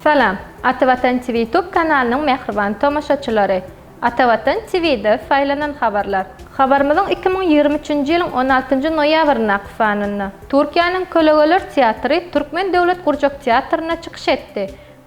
Salam, Ata Watan TV YouTube kanalynyň mähriban tomaşaçylary! Ata Watan TV-de saýlanan habarlar. Habarymyzyň iki müň ýigrimi üçünji ýylyň on altynjy noýabryndaky sanynda Türkiýäniň Kölegeler teatry Türkmen döwlet gurjak teatrynda çykyş etdi.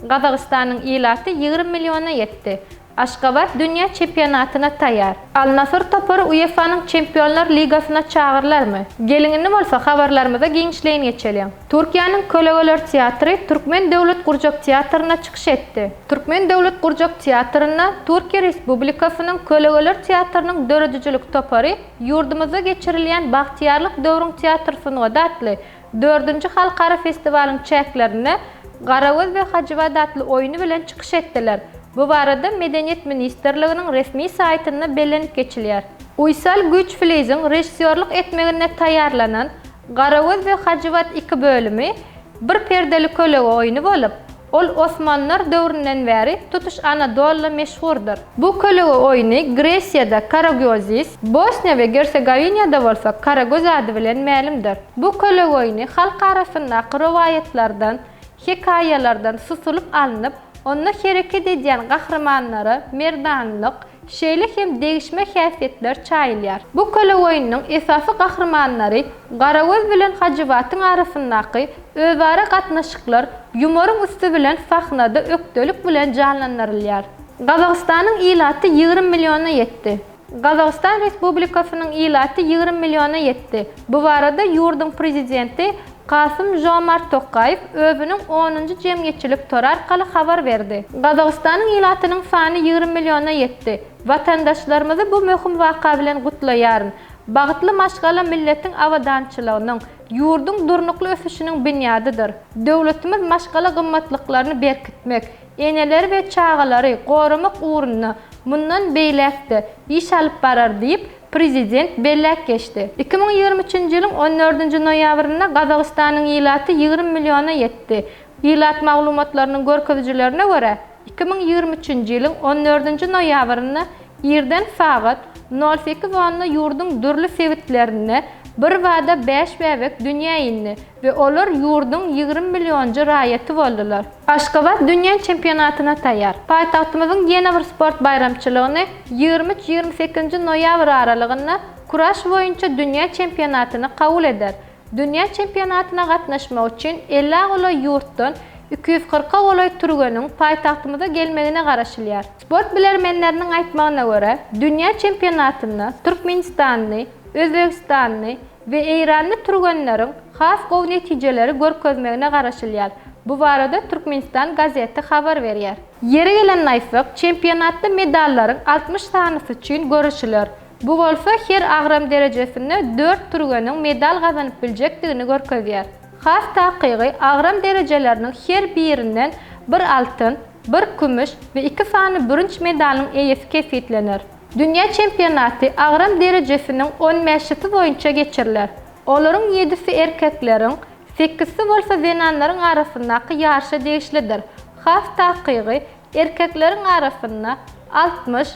Gazagystanyň ilaty ýigrimi milliona ýetdi. Aşgabat dünýä çempionatyna taýýar. Al-Nasr topary UEFA-nyň Çempionlar ligasyna çagyrylarmy? Geliňini bolsa habarlarymyza giňişleýin geçeliň. Türkiýäniň Kölegeler teatry Türkmen döwlet gurjak teatrynda çykyş etdi. Türkmen döwlet gurjak teatrynda Türkiýe Respublikasynyň Kölegeler teatrynyň döredijilik topary ýurdumyzda geçirilýän Bagtyýarlyk döwrüň teatr sungaty atly Dördünji halkara festiwalyň çäklerinde Garagöz we Hajybat atly oýny bilen çykyş etdiler. Bu barada Medeniýet ministrliginiň resmi saýtynda bellenip geçilýär. Uýsal Güýçflijiň režissýorlyk etmeginde taýýarlanan Garagöz we Hajybat iki bölümi bir perdeli kölege oýny bolup, Ol osmanlar döwründen bäri tutuş Anadoluda meşhurdyr. Bu kölege oýny Gresiýada Karagiozis, Bosniýa we Gersogowinýada bolsa Karagöz ady bilen mälimdir. Bu kölege oýny halk arasyndaky rowaýatlardan, hekaýalardan susulyp alnyp, onda hereket edýän gahrymanlara merdanlyk, Şeýle hem degişme häsiýetler çaýylýar. Bu köleoýnunyň esasy gahrymanlary Garagöz bilen Hajybatyň arasyndaky özara gatnaşyklar ýumoryň üsti bilen sahnada ökdelik bilen janlandyrylýar. Gazagystanyň ilaty ýigrimi milliona ýetdi. Gazagystan Respublikasynyň ilaty ýigrimi milliona ýetdi. Bu barada ýurduň Prezidenti Kasym-Žomart Tokaýew özüniň onunjy jemgyýetçilik tory arkaly habar berdi. Gazagystanyň ilatynyň sany ýigrimi milliona ýetdi. Watandaşlarymyzy bu möhüm waka bilen gutlaýaryn. Bagtly maşgala milletiň abadançylygynyň, ýurduň durnukly ösüşiniň binýadydyr. Döwletimiz maşgala gymmatlyklaryny berkitmek, eneleri we çagalary goramak ugrunda mundan beýläk-de iş alyp barar diýip, Prezident belläp geçdi. Iki müň ýigrimi üçünji ýylyň on dördünji noýabrynda Gazagystanyň ilaty ýigrimi milliona ýetdi. Ilat maglumatlarynyň görkezijilerine görä, iki müň ýigrimi üçünji ýylyň on dördünji noýabrynda irden sagat nol sekiz onda ýurduň dürli sebitlerinde birbada bäş bäbek dünýä indi. we olar ýurduň ýigrimi millionjy raýaty boldular. Aşgabat dünýä çempionatyna taýýar. Paýtagtymyzyň ýene bir sport baýramçylygyny ýigrimi üç, ýigrimi sekizinji noýabr aralygynda kuraş boýunça dünýä çempionatyny kabul eder. Dünýä çempionatyna gatnaşmak üçin elli golaý ýurtdan iki ýüz kyrka golaý türgeniň paýtagtymyza gelmegine garaşylýar. Sport bilermenleriniň aýtmagyna görä, dünýä çempionatynda türkmenistanly, özbegistanly, we eýranly türgenleriň has gowy netijeleri görkezmegine garaşylýar. Bu barada Türkmenistan gazeti habar berýär. Ýeri gelende aýtsak, çempionatda medallaryň altmyş sanysy üçin göreşiler. Bu bolsa her agram derejesinde dört türgeniň medal gazanyp biljekdigini görkezýär. Has takygy, agram derejeleriniň her birinden bir altyn, bir kümüş we iki sany bürünç medalyň eýesi kesgitlener. Dünýä çempionaty agram derejesiniň on bäşisi boýunça geçiriler. Olaryň ýedisi erkekleriň, sekizsi bolsa zenanlaryň arasyndaky ýaryşa degişlidir. Has takygy, erkekleriň arasynda altmyş,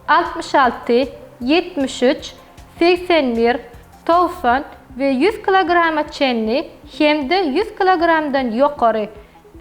altmyş alty, ýetmiş üç, segsen bir, togsan we ýüz kilograma çenli hem-de ýüz kilogramdan ýokary,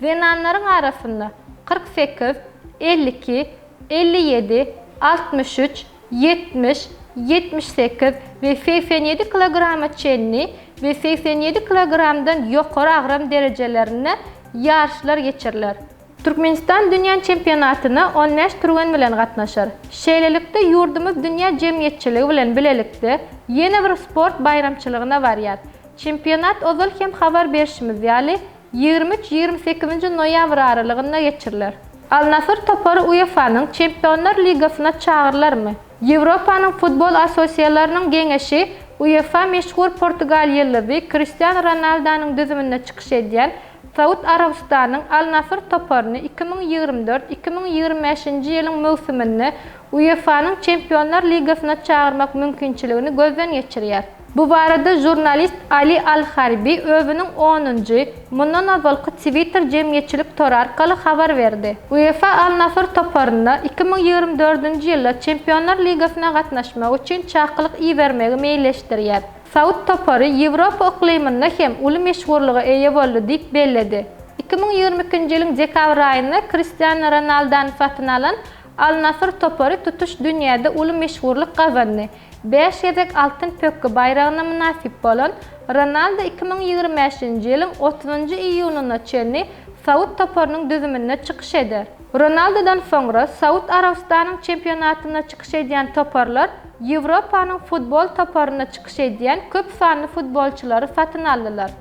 Zenanlaryň arasynda kyrk sekiz, elli iki, elli ýedi, altmyş üç, ýetmiş, ýetmiş sekiz we segsen ýedi kilograma çenli we segsen ýedi kilogramdan ýokary agram derejelerinde ýaryşlar geçiriler. Türkmenistan dünýä çempionatyna on bäş türgen bilen gatnaşar. Şeýlelikde, ýurdumyz dünýä jemgyýetçiligi bilen bilelikde ýene bir sport baýramçylygyna barýar. Çempionat ozal hem habar berşimiz ýaly, ýigrimi üç-ýigrimi sekizinji noýabr aralygynda geçiriler. Al-Nasr topary UEFA-nyň Çempionlar ligasyna çagyrylarmy? Ýewropanyň futbol assosiasiýalarynyň geňeşi UEFA meşhur portugal ýyldyzy Kristiano Ronaldonyň düzüminde çykyş edýän Saud Arabystanynyň Al-Nasr toparyny iki müň ýigrimi dört-iki müň ýigrimi bäşinji ýylyň möwsüminde UEFA-nyň Çempionlar ligasyna çagyrmak mümkinçiligini gözden geçirýär. Bu barada žurnalist Ali al-Harbi özüniň onunjy, mundan ozalky Twitter jemgyýetçilik tory arkaly habar berdi. UEFA Al-Nasr toparyna iki müň ýigrimi dördünji ýylda Çempionlar ligasyna gatnaşmak üçin çakylyk ibermegi meýilleşdirýär. Saud topary Ýewropa yklymynda hem uly meşhurlyga eýe boldy diýip belledi. Iki müň ýigrimi ikinji ýylyň dekabr aýynda Kristiano Ronaldany satyn alan Al-Nasr topary tutuş dünýäde uly meşhurlyk gazandy. Bäş gezek Altyn pökgi baýragyna mynasyp bolan Ronaldo iki müň ýigrimi bäşinji ýylyň otuzynjy iýunyna çenli saud toparynyň düzüminde çykyş eder. Ronaldodan soňra Saud Arabystanyň çempionatynda çykyş edýän toparlar Ýewropanyň futbol toparynda çykyş edýän köp sanly futbolçylary satyn aldylar.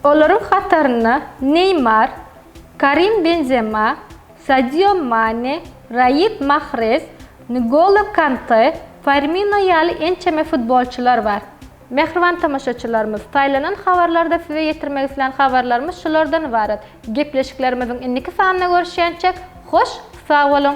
Olaryň hatarynda Neýmar, Karim Benzema, Sadio Mane, Raýid Mahrez, N'Golo Kante, Firmino ýaly ençeme futbolçylar bar. Mähriban tomaşaçylarymyz, saýlanan habarlarda size ýetirmek islän habarlarymyz şulardan ybarat. Gepleşiklerimiziň indiki sanynda görüşýänçäk, hoş sag boluň!